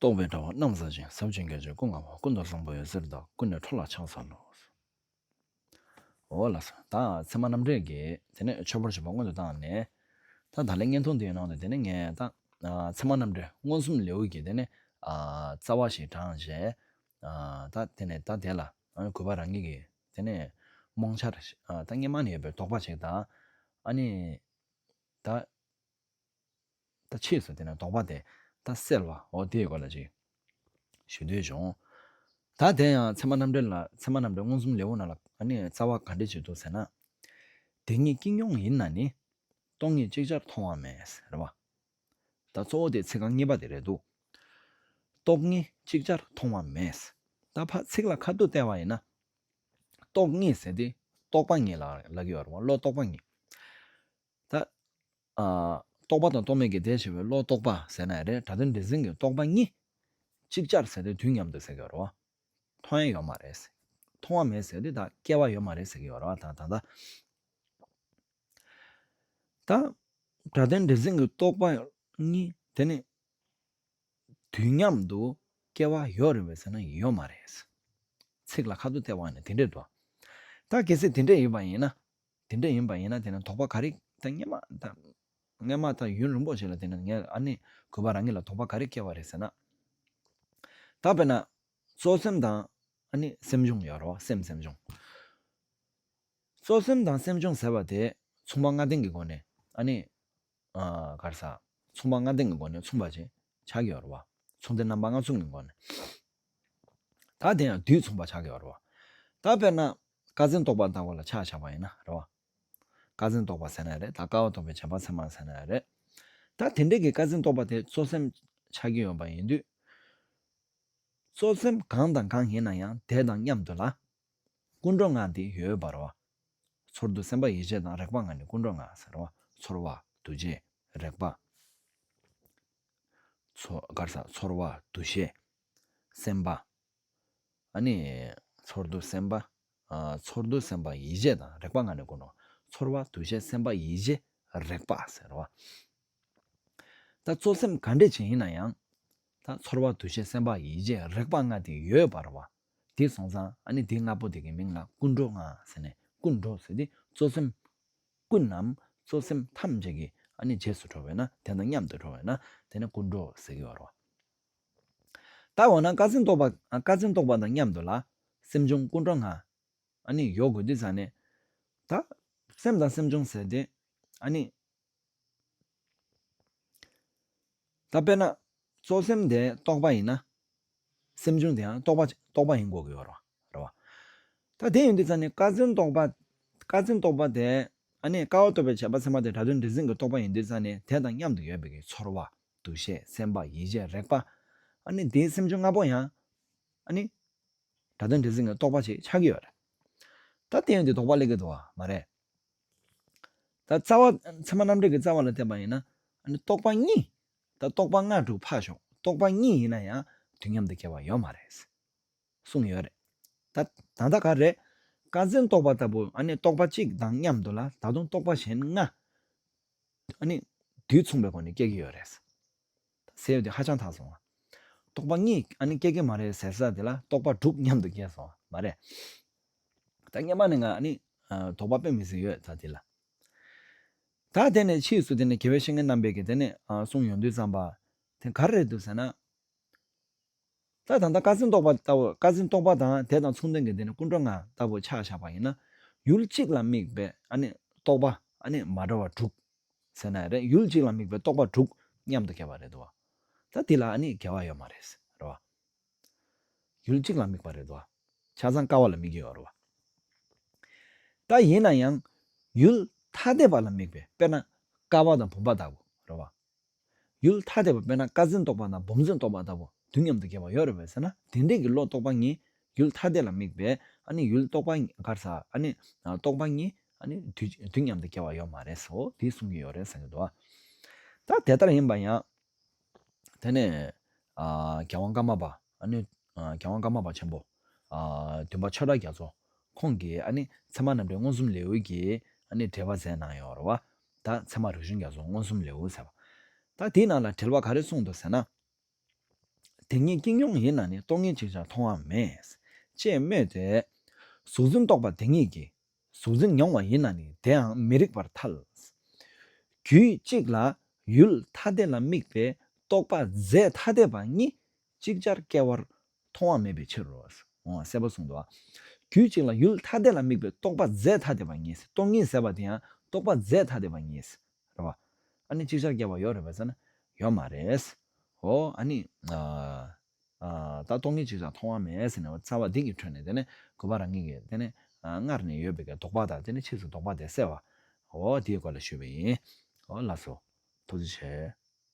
རྟོག་པའི་དྲ་བ་རྣམ་བསལ་ཅིང་ཟབ་ཅིང་གལ་ཆེ་སྐུ་མངའ་བ་ཀུན་ཏུ་བཟང་པོ་འོད་ཟེར་བདག་ཀུན་ནས་འཕྲོ་ལ་ཕྱག་འཚལ་ལོ། འོ་ལ། ད་ཚད་མ་རྣམ་འགྲེལ་གྱིས་དེ་ནས་ཆོས་འཁོར་བྱེད་པ་སྔོན་དུ་བཏང་ནས། ད་ད་ལན་བརྙན་ཐུང་འདིའི་ནང་དུ་དེ་ནས་ངས་ད་ཚད་མ་རྣམ་འགྲེལ་མངོན་སུམ་ལེའུ་གྱི་དེ་ནས་རྩ་བ་ཞིག་དྲངས་རྗེས། ད་དེ་ནས་ད་དེ་ལ་གུས་པ་རང་ཉིད་ཀྱིས་དེ་ནས་རྨོངས་འཆར་ད་སྙེ་མ་ནས་ཡོད་པའི་དོགས་པ་ཞིག་ད་ཨ་ནི་ད། ད་ཕྱིས་སུ་དེ་ན་དོགས་པ་དེ་ད་སེལ་བའོ་དེའི་སྐོར་ལ་ཅིག། ཞུ་འདོད་བྱུང། ད་དེ་ཡང་ཚད་མ་རྣམ་འགྲེལ་ལ་ཚད་མ་རྣམ་འགྲེལ་མངོན་སུམ་ལེའུ་ནང་ལ་ཨ་ནི་རྩ་བ་ག་འགྲེལ་བྱེད་འདུག་ཟེར་ན། དེ་གཉིས་ཀྱིས་སྙོང་ཡིན་ན་ནི། སྟོང་ཉིད་ཅིག་ཅར་མཐོང་བ་མེད་རེད་བ། ད་གཙོ་བོ་དེ་ཚིག་རྐང་གཉིས་པ་དེ་རེད་འདུག། སྟོག་ཉིད་ཅིག་ཅར་མཐོང་བ་མེད། ད་ཕ་ཚིག་ལ་ཁ་བསྡུ་བལྟས་བ་ཡིན་ན། སྟོག་ཉིད་ཟེར་དེ་རྟོགས་པ་ཉིད་ལ་ལ་གི་བར་བ་བློ་རྟོགས་པ་ཉིད། ད། རྟོག་པ་དང་རྟོག་མེད་ཀྱི་ཟླས་ཕྱེ་བའི་བློ་རྟོག་པ་ཟེར་ན་རེད་ད་དོན་འདྲེ་འཛིན་གྱི་རྟོག་པ་གཉིས་གཅིག་ཅར་ཟེར་ཏེ་དུས་མཉམ་དུ་ཟེར་གི་ཡོད་རེད་བ། མཐོང་ཡས་ཡོད་མ་རེད། མཐོང་བ་མེད་ཟེར་ཏེ་ད་སྐྱེ་བ་ཡོད་མ་རེད་ཟེར་གི་ཡོད་རེད་བ་དང་ད་ལྟ། ད། དྲ་དོན་འདྲེ་འཛིན་གྱི་རྟོག་པ་གཉིས་དེ་ནི། དུས་མཉམ་དུ་སྐྱེ་བ་ཡོད་རེད་བས་ཟེར་ན་ཡོད་མ་རེད། ཚིག་ལ་ཁ་ཐུག་སྟེར་བ་ནི་དེ་འདྲས་འགྲོ། ད་གལ་སྲིད་དེ་འདྲས་ཡོད་པ་ཡིན་ན། དེ་འདྲ་ཡིན་པ་ཡིན་ན་དེ་ན་དོགས་པ་ག་རེ་དང་སྔན་མ་དང། སྔན་མ་དང་ཡུན་རིང་པོ་ཞིག་ལ་དེ་ནས་ངས་ཨ་ནི་གུས་པ་རང་ཉིད་ལ་དོགས་པ་ག་རེ་སྐྱེ་བ་རེད་ཟེར་ན། ད་དཔེར་ན། གཙོ་སེམས་དང་ཨ་ནི་སེམས་བྱུང་ཡོད་རོ་སེམས་སེམས་བྱུང། གཙོ་སེམས་དང་སེམས་བྱུང་ཟེར་བ་དེ་མཚུངས་པ་ལྔ་ལྡན་གྱི་སྒོ་ནས་ཨ་ནི། གར་ཟག། མཚུངས་པ་ལྔ་ལྡན་གྱི་སྒོ་ནས་མཚུངས་པ་ཅན་ཕྱག་རྒྱ་བར་བ། མཚུངས་ཏེ་རྣམ་པ་ལྔ་མཚུངས་ཀྱི་སྒོ་ནས། དག་དེ་ཡང་དུས་མཚུངས་པར་ཕྱག་རྒྱ་བར་བ། ད་དཔེར་ན། བཀའ་བཙན་རྟོག་པར་བཏགས་པ་ལ་ཕྱག་བྱ་བ་ཡིན་ན་རེ་བ། བཀའ་བཙན་རྟོག་པར་ཟེར་ན་རེ་ད་བཀའ་བ་རྟོག་པའི་བྱེད་པ་ཚད་མར་ཟེར་ན་རེ། ད་དེ་འདྲ་གི་བཀའ་བཙན་རྟོག་པ་དེ་གཙོ་སེམས་ཕྱག་རྒྱ་ཡོད་པ་ཡིན་དུས། གཙོ་སེམས་གང་དང་གང་ཡིན་ན་ཡང་དེ་དང་མཉམ་དུ་ལ། ཀུན་འགྲོ་ལྔ་སྟེ་ཡོད་པར་བ། ཚོར་འདུ་སེམས་པ་ཡིད་བྱེད་དང་རེག་པ་ལྔ་ནི་ཀུན་འགྲོ་ལྔ་ཟེར་རོ། ཚོར་བ། འདུ་བྱེད། རེག་པ། ཚོར་བ། འདུ་བྱེད། སེམས་པ། ཚོར་འདུ་སེམས་པ། ཚོར་འདུ་སེམས་པ་ཡིད་བྱེད་དང་རེག་པ་ལྔ་ནི་ཀུན་འགྲོ། ཚོར་བ། འདུ་བྱེད་སེམས་པ་ཡིད་བྱེད། རེག་པ། ཟེར་རོ། ད་གཙོ་སེམས་ག་འདྲས་ཅན་ཡིན་ན་ཡང། ཚོར་བ། འདུ་བྱེད་སེམས་པ་ཡིད་བྱེད་རེག་པ་ལྔ་སྟེ་ཡོད་པར་བ། དེ་སོང་ཙང་ཨ་ནི་དེ་ལྔ་པོ་དེ་གའི་མིང་ལ་ཀུན་འགྲོ་ལྔ་ཟེར་ནས་ཀུན་འགྲོ་ཟེར་ཏེ་གཙོ་སེམས་ཀུན་ནམ་གཙོ་སེམས་ཐམས་ཅད་ཀྱི་ཨ་ནི་རྗེས་སུ་འགྲོ་བས་ན་དེ་དང་མཉམ་དུ་འགྲོ་བས་ན་དེ་ནི་ཀུན་འགྲོ་ཟེར་གྱི་བར་རོ། ད་འོ་ན་བཀའ་ཆེན་རྟོགས་པ་བཀའ་ཆེན་རྟོགས་པ་དང་མཉམ་དུ་ལ་སེམས་བྱུང་ཀུན་འགྲོ་ལྔ་ཨ་ནི་ཡོད་དགོས་དུས་ཙང་ནས་ད་སེམས་དང་སེམས་བྱུང་ཟེར་ཏེ་ཨ་ནི་ད་དཔེར་ན་གཙོ་སེམས་དེ་རྟོགས་པ་ཡིན་ན། སེམས་བྱུང་དེའང་རྟོགས་པ་ཡིན་དགོས་ཀྱི་ཡོད་རེད། ད་དེ་ཡིན་དུས་ཙང་ནི་དཀའ་སེམས་རྟོགས་པ། དཀའ་སེམས་རྟོགས་པ་དེ། ཨ་ནི་དཀའ་བ་རྟོགས་པའི་བྱ་བ་སེམས་པ་དེ་དྲ་དོན་འདྲེ་སྲིན་གྱི་རྟོགས་པ་ཡིན་དུས་ཙང་ནི་དེ་དང་མཉམ་དུ་ཡོད་པའི་གི་ཚོར་བ། འདུ་ཤེས་སེམས་པ་ཡིད་བྱེད་རེག་པ། ཨ་ནི་དེའི་སེམས་བྱུང་ལྔ་པོ་ཡང། ཨ་ནི། དྲ་དོན་འདྲེ་སྲིན་གྱི་རྟོགས་པ་ཞིག་ཆགས་ཀྱི་ཡོད་རེད། ད་དེ་ཡིན་དུས་དོགས་པ་སླེབས་ཀྱི་འདུག་བ་མ་རེད། ད་རྩ་བ། མཚན་མ་རྣམ་འགྲེལ་གྱི་རྩ་བ་ལ་བརྟེན་པ་ཡིན་ན། རྟོག་པ་གཉིས། ད་རྟོག་པ་ལྔ་དྲུག་འཕགས་ཤོག་རྟོག་པ་གཉིས་ཡིན་ན་ཡང་དུས་མཉམ་དུ་སྐྱེ་བ་ཡོད་མ་རེད། གསུངས་ཡོད་རེད། ད་ད་ལྟ་ག་རེད། བཀའ་བཙན་རྟོག་པ་ལྟ་བུ། རྟོག་པ་གཅིག་དང་མཉམ་དུ་ལ་ད་དུང་རྟོག་པ་གཞན་ལྔ། དུས་མཚུངས་པའི་སྒོ་ནས་སྐྱེ་གི་ཡོད་རེད། ཟེར་བ་དེ་ཧ་ཅང་དག་སོང། རྟོགས་པ་ལྔས་ཨ་ནི་སྐྱེ་གི་མ་རེད་ཟེར་ས་དེ་ལ་རྟོགས་པ་དྲུག་མཉམ་དུ་སྐྱེས་སོང་བ་མ་རེད། ད་བརྙན་པ་ནས་ང་ཨ་ནི་དོགས་པ་དཔེ་མི་སྲིད་ཡོད་ད་དེ་ལ། ད་དེ་ནས་ཕྱིས་སུ་དེ་ནས་དགེ་བའི་བཤེས་གཉེན་རྣམ་པས་ཀྱི་དེ་ནས་གསུང་ཡོང་དུས་བརྩམས་པ་དེ་ག་རེ་རེད་འདུག་ཟེར་ན། ད་ད་ལྟ་བཀའ་སེང་རྟོགས་པ་ལྟ་བུ་བཀའ་སེང་རྟོགས་པ་དང་དེ་དང་མཚུངས་ལྡན་གྱི་དེ་ནི་ཀུན་འགྲོ་ང་ལྟ་བུ་ཆགས་བཞག་པ་ཡིན་ན། ཡུལ་གཅིག་ལ་དམིགས་པའི་རྟོགས་པ་མ་འདྲ་བ་དྲུག། ཟེར་ན་ཡང་རེད་ཡུལ་གཅིག་ལ་དམིགས་པའི་རྟོགས་པ་དྲུག་མཉམ་དུ་བསྐྱེད་པ་རེད་དོ། ད་འདི་ལ་འགལ་བ་ཡོད་མ་རེད། ཡུལ་གཅིག་ལ་དམིགས་པ་རེད་དོ། ཆ་ཚང་ཀ་བ་ལ་དམིགས་ཀྱི་ཡོད། ད་ཡིན་ན་ཡང་ཡུལ་ཐ་དད་པ་ལ་དམིགས་པའི་དཔེར་ན་ཀ་བ་དང་བུམ་པ་ལྟ་བུ། ཡུལ་ཐ་དད་པ་དཔེར་ན་བཀའ་བཙན་རྟོགས་པ་དང་བུམ་བཙན་རྟོགས་པ་ལྟ་བུ་དུས་མཉམ་དུ་གྱེས་པ་ཡོད་རེད་བས་ཟེར་ན་དེ་འདྲས་ཀྱི་བློ་རྟོགས་པ་གཉིས་ཡུལ་ཐ་དད་ལ་དམིགས་པས་ཡུལ་རྟོགས་པ་འགར་ས་རྟོགས་པ་གཉིས་དུས་མཉམ་དུ་གྱེས་བ་ཡོད་མ་རེད་སོ་དེ་གསུང་གི་ཡོད་རེད་བསམ་གྱི་འདུག་ད་དེ་ལྟར་ཡིན་པ་ཡང་དེ་ནས་རྒྱལ་དབང་ཀརྨ་པ་རྒྱལ་དབང་ཀརྨ་པ་ཆེན་པོ་བདུན་པ་ཆོས་གྲགས་རྒྱ་མཚོ་ཁོང་གིས་ཚད་མ་རྣམ་འགྲེལ་མངོན་སུམ་ལེའུ་ཀྱི་འགྲེལ་པ་མཛད་གནང་ཡོད་རེད་བ། ད་ཚེ་མ་རིག་གཞུང་རྒྱ་སོགས་མངོན་སུམ་ལེའུ་ཟེར་བ། ད་དེའི་ནང་ལ་དྲིལ་བ་ག་རེ་གསུངས་འདུག་ཟེར་ན། དེ་ཉིད་ཀྱིང་ཡོངས་ཡིན་ན་ནི་རྟོག་ངན་ཅིག་ཅར་མཐོང་བ་མེད། ཅེས་སྨོས་ཏེ། གཟུགས་འཛིན་རྟོག་པ་དེ་ཉིད་ཀྱིས་གཟུགས་འཛིན་མྱོང་བ་ཡིན་ན་ནི་དེའང་མི་རིགས་པར་ཐལ། རྒྱུད་གཅིག་ལ་ཡུལ་ཐ་དད་ལ་དམིགས་པའི་རྟོག་པ་རྫས་ཐ་དད་པ་གཉིས་ཅིག་ཅར་སྐྱེ་བར་མཐོང་བ་མེད་པའི་ཕྱིར་རོ། གསལ་པོར་གསུངས་ཏོ། རྒྱུད་གཅིག་ལ་ཡུལ་ཐ་དད་ལ་དམིགས་པའི་རྟོག་པ་རྫས་ཐ་དད་པ་ངེས། སྟོང་ཉིད་ཟེར་བ་དེ་ཡང་རྟོག་པ་རྫས་ཐ་དད་པ་ངེས། རེད་བ། ཨ་ནི་ཅིག་ཅར་སྐྱེ་བ་ཡོད་རེད་བ་ཟེར་ན། ཡོད་མ་རེད། ཨོ། ཨ་ནི། ད་སྟོང་ཉིད་ཅིག་ཅར་མཐོང་བ་མེད་ཟེར་ནས་བ་རྩ་བ་སྡིག་གི་ཁྲོད་ནས་དེ་ནས་དགོས་པ་རང་ཉིད་ཀྱི་དེ་ནས་སྔར་ནས་ཡོད་པའི་ལྡོག་པ་དང་དེ་ནས་ཕྱིས་སུ་ལྡོག་པ་དེ་བསལ་བ། ཨོ། དེའི་སྐོར་ལ་ཞུས་པ་ཡིན། ལགས་སོ། ཐུགས་རྗེ་ཆེ།